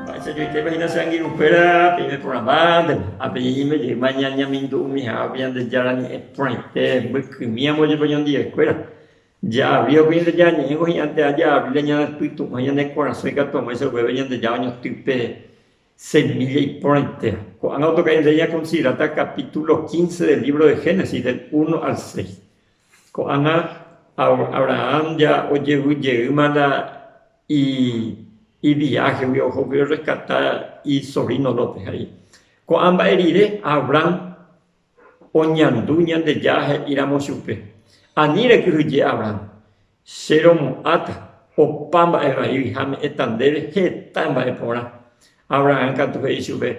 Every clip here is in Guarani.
Mba'éicha joiképa hína che angirũ kuéra peime porãmba ndéve, ha peñeñeime jeýma ñañemindu umi ha'ápe Ñandejára ñe'ẽ porãite mbykymi amo jepe oñondive kuéra. Ja'avíva pe Ñandejára ñe'ẽngo hi'ãnte aja Biblia ñane pytu'ũ ha ñane korasõ ikatu amoĩsa oguéve Ñandejára oñotỹ pe semilla iporãitéva. Ko'ág̃a otoka ñandéve ña considerata capítulo quince del libro de Génesis del uno al seis. Ko'ág̃a Abrahán ja ojevy jeýma la iviáhegui ohógui orreskata isovíno Lót. He'i, Ko'ã mba'e rire Abrán oñandu Ñandejára he'íramo chupe, Ani rekyhyje Abrán, che romo'ãta opa mba'e vaígui ha me'ẽta ndéve heta mba'e porã. Abrahán katu he'i chupe,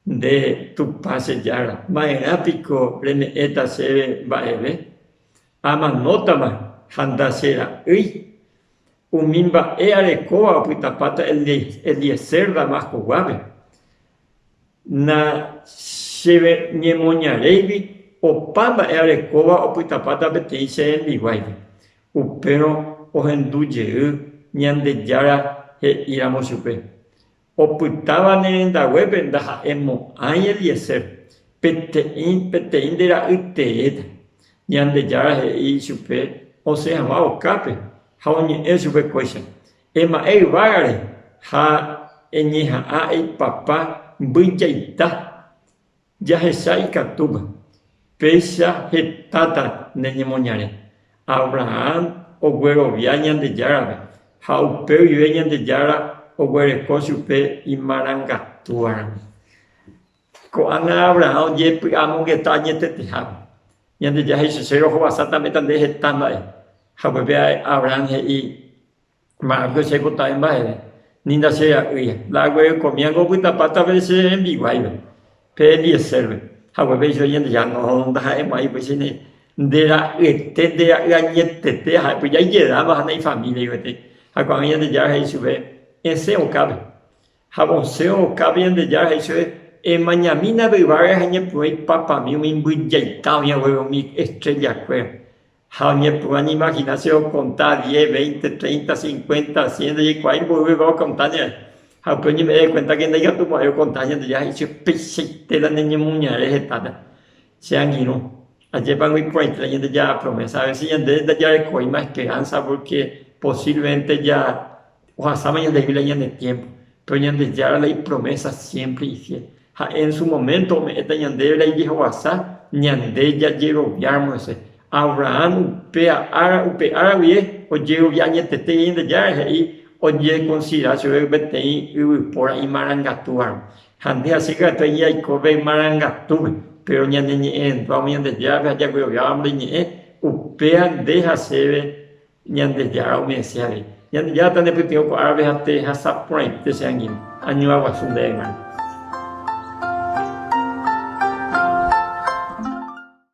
Nde Tupã che Jára, ma'erã piko reme'ẽta chéve mba'eve? Amanótama ha ndachera'ỹi. Umi mba'e arekóva opytapáta Eliezer Damasco guápe. Nacheñemoñaréigui opa mba'e arekóva opytapáta peteĩ che rembiguáigui. Upérõ ohendu jey Ñandejára he'íramo chupe, Opytáva ne rendaguépe ndaha'éi mo'ãi Eliezer, peteĩ peteĩ nde ra'y teéta. Ñandejára he'i ichupe osẽ hag̃ua okápe ha oñe'ẽ chupe kóicha, Ema'ẽ yvágare ha eñeha'ã eipapa mbyjaita. Jahecha ikatúma, péicha hetáta ne ñemoñare. Abrahán oguerovia Ñandejárape ha upe guive Ñandejára oguereko chupe imarangatúvaramo. Ko'ág̃a Abrahán ojepy'amongeta añetetehápe. Ñandejára he'i chupe, Che rohovasa tameta nde heta mba'e. Ha upépe Abrahán he'i, Mba'apo che kota'e mba'eve, ni ndache'a'ỹi, nda'agueyekomía ko opytapáta pe che rembiguáipe, pe Eliezérpe, hague péicha Ñandejára nohondo ndaha'emo'ãi upéicha ne, nde ra'yete, nde ra'y añetete, ha'éko jaijedáva ha naifamíliai gueteri. Ha ko'ág̃a Ñandejára he'i chupe, Esẽ okápe, ha vosẽ okápe, Ñandejára he'i chupe, Emañamína pe yvága rehe añepyrũ aipapami umi mbyjaita oĩ haguére umi estréllakuéra. Ha oñepyrũ añimagina che okonta diez, veinte, treinta, cincuenta, cien ndajaikuaái mboyvegua okonta ñae. Ha upéi oñeme'ẽ dekuéntake ndaikatumo'ãi okonta Ñandejára ha he'i che upeichaite la neñemoñare hetápe. Che angirũ, ajépa noĩporãite la Ñandejára promésa. Avese ñande ndajarekóima esperánsa pórke posívlemente ja. ohasáva ñande Biblia ñande tiémpo, péro Ñandejára la ipromésa siémpre ifiél. Ha'e en su moménto ome'ẽta ñandéve la ijehovasa ñande jajeroviáramo hese. Abrahán upe ára, upe ára guie ojerovia añetetéi Ñandejára, he'i ojekonsiderá chupe peteĩ yvypóra imarangatúvarõ. Ha nde hasýi katu he'i aiko pe marangatúpe, péro ñaneñe'ẽrendu'ávo Ñandejárape ha jagueroviávamo reñe'ẽ, upéva nde ha chéve Ñandejára umi anciãre, Ñandejára tanepytyvõ ko árape ha tehasa porãite che angirũ, añuã guasu ndéve g̃uarã.